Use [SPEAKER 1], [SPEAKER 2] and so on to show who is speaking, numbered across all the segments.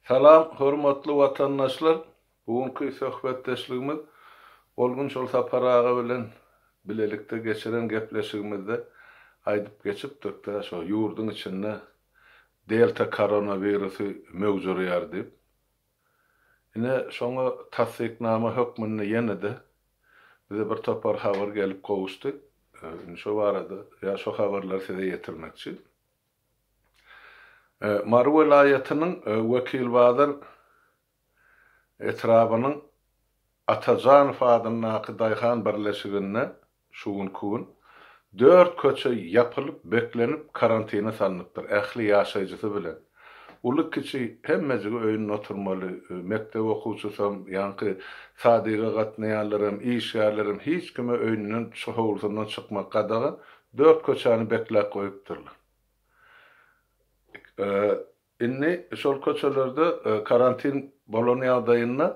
[SPEAKER 1] Salam, hormatly watandaşlar! Bu günki söhbetdeşligimiz Olgun Şolsapar aga bilen bilelikde geçiren gepleşigimizde aýdyp geçipdik-de, şo ýurduň içinde Delta koronawirusy möwjürýär diýip. Ine, şoňa tassyknama hökmünde ýene-de bize bir topar habar gelip gowuşdy. Indi şo barada, ýa şo habarlary size ýetirmekçi. Mary welaýatynyň Wekilbazar etrabynyň Atajanow adyndaky daýhan birleşiginde şu günki gün dört köçe ýapylyp, beklenip, karantine salnypdyr, ähli ýaşaýjysy bilen. Uly-kiçi hemmejigi öýünde oturmaly, mekdep okuwçysam, ýaňky sadyga gatnaýanlaram, işgärlerem hiç kime öýünden, howlusyndan çykmak gadagan, Dört köçäni bekläp goýupdyrlar. Indi şol köçelerde karantin bolan ýagdaýynda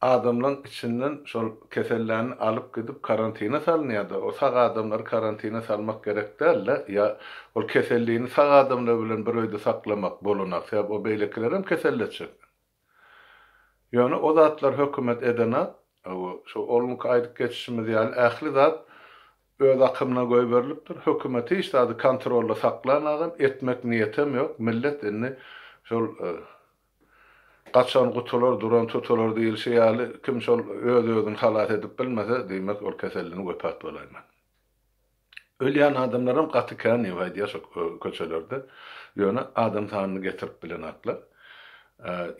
[SPEAKER 1] adamlaň içinden şol keselläni alyp gidip karantine salynýada. O sag adamlary karantine salmak gerek dälde. Ýa ol kesellini sag adamlar bilen bir öýde saklamak bolunak. Sebäbi o beýlekilerem keselletjek. Ýöne o zatlar hökümet edene, şu owlunky aýdyp geçişimiz ýaly ähli zat öz akymyna goýberilipdir. Hökümet hiç zady kontrolda saklanagam, etmek niýetem ýok. Millet indi şol gaçan gutular, duran tutular diýilşi ýaly, kim şol öz-özüni halas edip bilmese, diýmek ol keselden wepat bolaýmaly. Ölýän adamlaram gaty kän ýok aýdýar şo köçelerde. Ýöne adam sanyny getirip bilenoklar.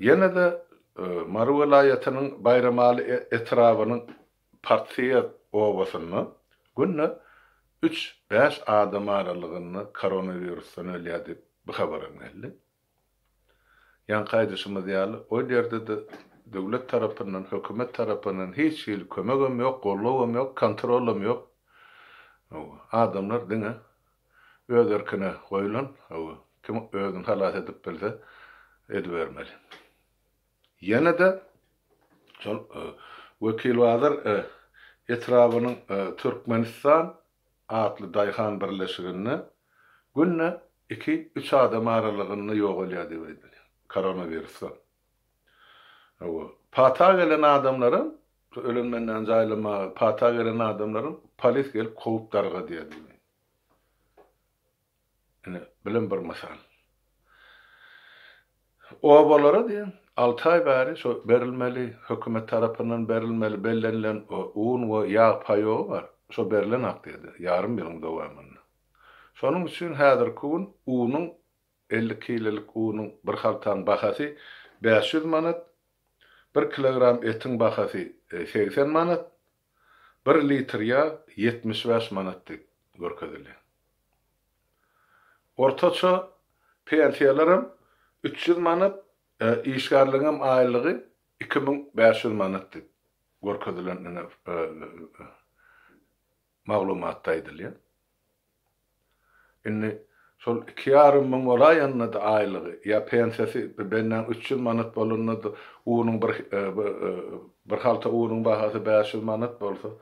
[SPEAKER 1] Ýene-de Mary welaýatynyň Baýramaly etrabynyň Partsyýer obasynda günde üç, bäş adam aralygynda koronawirusdan ölýär diýip bu habaram geldi. Ýaňky aýdyşymyz ýaly, ol ýerde-de döwlet tarapyndan, hökümet tarapyndan hiç hili kömegem ýok, gollawam ýok, kontrolam ýok. Hawa, adamlar diňe öz erkine goýlan, hawa, kim özüni halas edip bilse, edibermeli. Ýene-de şol Wekilbazar etrabynyň Türkmenistan atly daýhan birleşiginde günde iki-üç adam aralygynda ýogalýar diýip aýdylýar koronawirusdan. Hawa, pata gelen adamlaram, şu ölen benäni jaýlamaga pata gelen adamlaram polis gelip kowup dargadýar diýip aýdylýar. Ine, bulam bir mysal. Obalara diýen alty aý bäri şo berilmeli, hökümet tarapyndan berilmeli bellenilen un we ýag paýogy bar. Şo berlen akdiýada, ýarym ýylyň dowamynda. Şonuň üçin häzirki gün unuň, elli kilolik unuň bir haltaň bahasy bäş ýüz manat, bir kilogram etiň bahasy segsen manat, Bir litr ýag ýetmiş bäş manat diýip görkezilýär. Ortaça pensiýalaram üç ýüz manat, işgärligiňem aýlygy iki müň bäş ýüz manat diýip görkezilen ine maglumatda aýdylýar. Indi şol iki ýarym müň bolaýanda-da aýlygy, ýa pensiýasy bennäň üç ýüz manat bolanda-da, unuň bir, bir halta unuň bahasy bäş ýüz manat bolsa,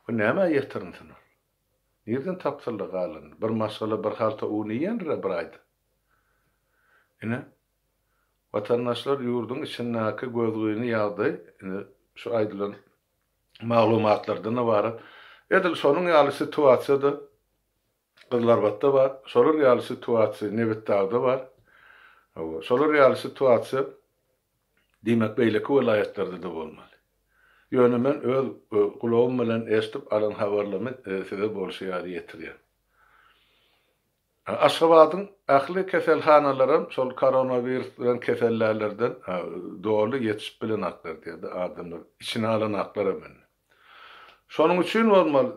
[SPEAKER 1] bu nämä ýetirinsin ol? Nirden tapsyn-la galanyny? Bir maşgala bir halta un iýendir-ä bir aýda. Ine, watandaşlar ýurduň içindäki gözgyny ýagdaý indi şu aýdylan maglumatlardan ybarat. Edil şonuň ýaly situasiýa-da Gyzylarbatda bar, şolar ýaly situasiýa Nebitdagda bar. Hawa, şolar ýaly situasiýa diýmek beýleki welaýatlarda-da bolmaly. Ýöne men öz gulagym bilen eşidip alan habarlamy size bolşy ýaly ýetirýän. Aşgabadyň ähli keselhanalarym şol koronawirus bilen kesellärlerden doly ýetişip bilenaklar diýdi, adamlar içine alanaklaram indi. Şonuň üçin bolmaly,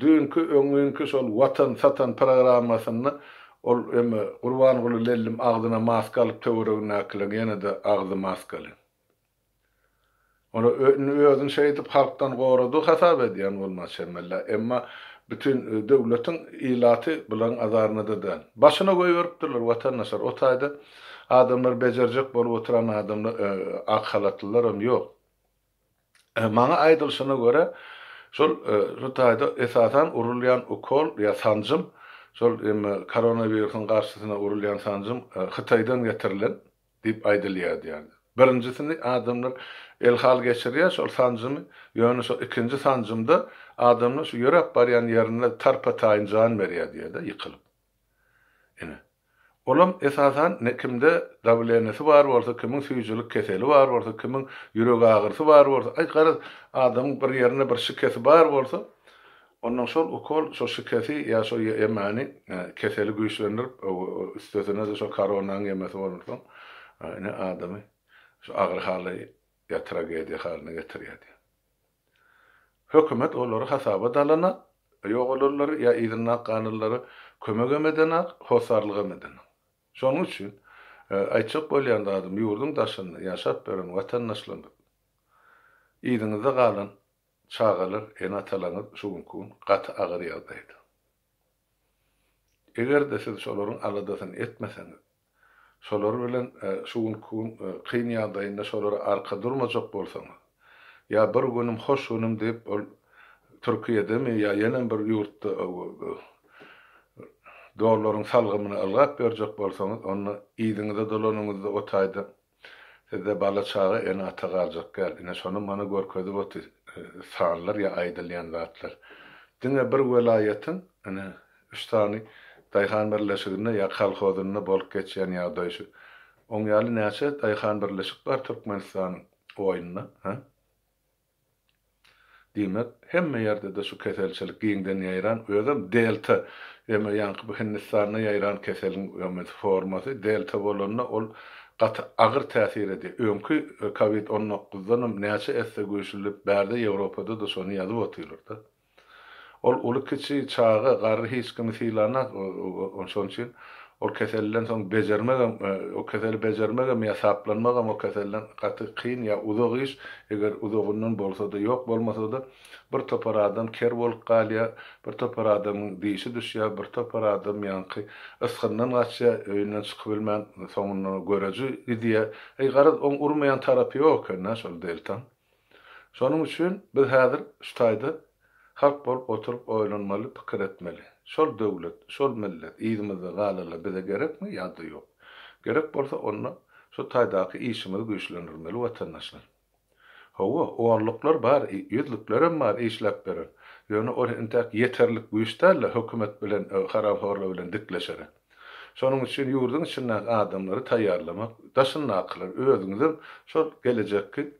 [SPEAKER 1] düýnki, öňňinki şol Watan satan programmasynda ol emme Gurbanguly lellim agzyna maska alyp töweregindäkileň ýene-de agzy maskaly. Ony indi özüni şeýdip halkdan gorady hasap edýän bolmaly çemelle, emma bütin döwletiň ilaty bularyň azarynada däl. Başyna goýberipdirler watandaşlar, o taýda adamlar bejerjek bolup oturan adamlar ak halatlylaram ýok. Maňa aýdylyşyna görä şol şu taýda esasan urulýan ukol ýa sanjym şol koronawirusyň garşysyna urulýan sanjym Hytaýdan getirilen. Diýip aýdylýardy ýaly. Birinjisini adamlar elhal geçirýär şol sanjymy, ýöne şol ikinji sanjymda adamlar şu ýöräp barýan ýerinde tarpa-taýyn jan berýär diýýär-de ýykylyp. Ine, olam esasan kimde dawlenýasy bar bolsa, kimiň süýjülik keseli bar bolsa, kimiň ýürek agyrysy bar bolsa, aý garaz, adamyň bir ýerinde bir şikesi bar bolsa, Onnoň şol ukol, şo şikesi ýa şo ýemani keseli güýçlendirip, üstesine-de şo koronaň ýemesi bolansoň, ine, adamy şu agyr hala ýa tragediýa halyna getirýär diýýär. Hökümet olary hasaba da alanok, ýok olanlary ýa yzyndaky galanlary kömegem edenok, hossarlygam edenok. Şonuň üçin, aýtjak bolýan zadym, ýurduň daşynda ýaşap ýören watandaşlarymyz, yzyňyzda galan Çagalar, ene-atalaryňyz şu günki gün gaty agyr ýagdaýda. Eger-de siz şolaryň aladasyny etmeseňiz, şolar bilen şu günki gün kyn ýagdaýynda şolara arka durmajak bolsaňyz, ýa bir günüm, hoş günüm diýip ol Türkiýedemi ýa ýenem bir ýurtda dollaryň salgymyny ylgap ýörjek bolsaňyz, onda yzyňyza dolanyňyzda o taýda Sizde bala çaga ene ata galjak däl ine şony mana görkezip oty sanlar ýa aýdylýan zatlar. Diňe bir welaýatyň ine üç sany daýhan birleşiginde ýa kolhozynda bolup geçýän ýagdaý şu. Oň ýaly näçe daýhan birleşik bar Türkmenistanyň oýunda ha? Diýmek, hemme ýerde-de şu keselçilik giňden ýaýran, özem delta, eme ýaňky bu Hindistanda ýaýran keseliň öňüsi formasy delta bolanda ol gaty agyr täsir edýär. Öňki covid on dokuzdanam näçe esse güýçlüdip bärde Ýewropada-da şony ýazyp otyrlar-da. Ol uly-kiçi, çaga, garry hiç kimi sylanak, şonuň üçin ol keselden soň bejermegem, o keseli bejermegem ýa saplanmagam o keselden gaty kyn ýa uzak iş, eger uzagyndan bolsa-da, ýok bolmasa-da, bir topar adam ker bolup galýar, bir topar adamyň dişi düşýär, bir topar adam ýaňky ysgyndan gaçýar, öýünden çykybilmän, soňundan görüji gidýär. Eý, garaz, oň urmaýan tarapy ýok eken-dä şol deltaň. Şonuň üçin biz häzir şu taýda halk bolup oturyp oýlanmaly, pikir etmeli. Şol döwlet, şol millet yzymyzda galaly bize gerekmi ýa-da ýok? Gerek bolsa onda şu taýdaky işimizi güýçlendirmeli watandaşlar. Hawa, onluklar bar, ýüzlüklerem bar işläp beren. Ýöne ol entäk ýeterlik güýç däl-de hökümet bilen, haramhorlar bilen dikleşere. Şonuň üçin ýurduň içindäki adamlary taýýarlamak, daşyndakylary, özüňizem şol gelejekki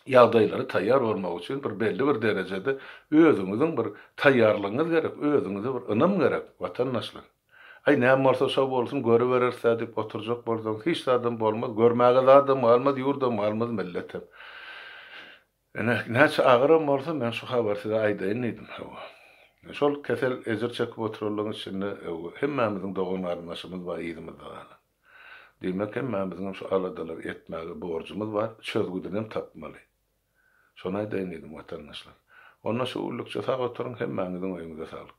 [SPEAKER 1] ýagdaýlara taýýar bolmak üçin bir belli bir derejede özüňiziň bir taýýarlygyňyz gerek, özüňize bir ynam gerek, watandaşlar. Aý, näme bolsa şo bolsun, görübereris-dä diýip oturjak bolsaň, hiç zadam bolmaz, görmäge zadam galmaz, ýurdam galmaz, milletem. Ine, näçe agyram bolsa, men şu habary size aýdaýyn diýdim. Hawa. Şol kesel ejir çekip oturanlaryň içinde hemmämiziň dogan-garyndaşymyz bar, yzymyzda galan. Diýmek, hemmämiziňem şu aladalary etmäge borjumyz bar, çözgüdinem tapmaly. Şony aýdaýyn diýdim, watandaşlar. Onda şu günlükçe sag oturyň, hemmäňiziň öýüňize saglyk.